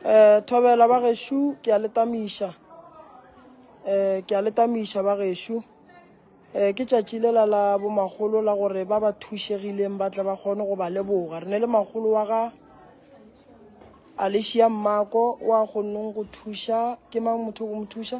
um thobela ba gešo ke a letamiša um ke a letamiša ba gešo um ke tšatši le la la bomagolo la gore ba ba thušegileng ba tle ba kgone go ba leboga re ne le magolo wa ga alicia mmako wa kgonneng go thuša ke mang motho go mo thuša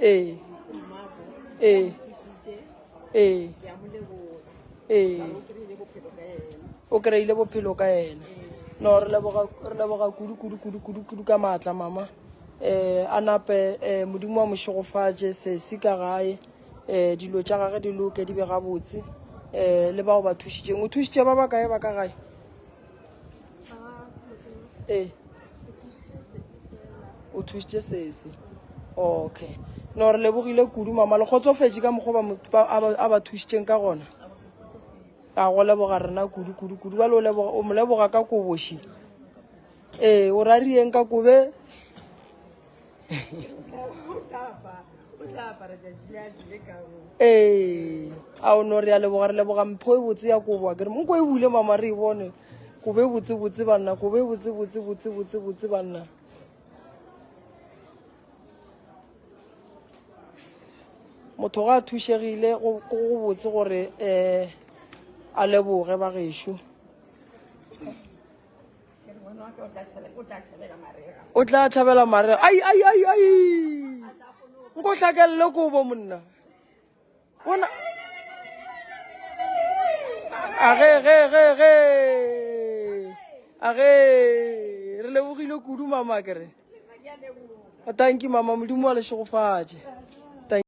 ee ee ee ee o kry-ile bophelo ka ena no re leboga kudu-kudu-kudu-kudu-kudu ka maatla mama um a nape um modimo wa mošegofatše sesi ka gae um dilo tša gage di loke di be gabotse um le bao ba thušitšeng o thušitše ba ba kae ba ka gae ee o thusitše sese okay no re lebogile kudu mama le kgotsofetše ka mokgwa a ba thusitseng ka gona a go leboga rena kudu kudu kudu ba le o mo leboga ka koboši ee o rarieng ka kobe ee a o no re ya leboga re leboga mpho e botse ya koboa ke re moko e bule mama re e bone kobe botsebotse banna kobe botsebotse botsebotse botse banna motho ga a thušegile go botse gore um a leboge ba gešo o tla thabela marega ai ai ai ai nko hlakelele kobo monna bona age ge ge ge age re lebogile kudu mama kere tanki mama modimo wa le šegofatše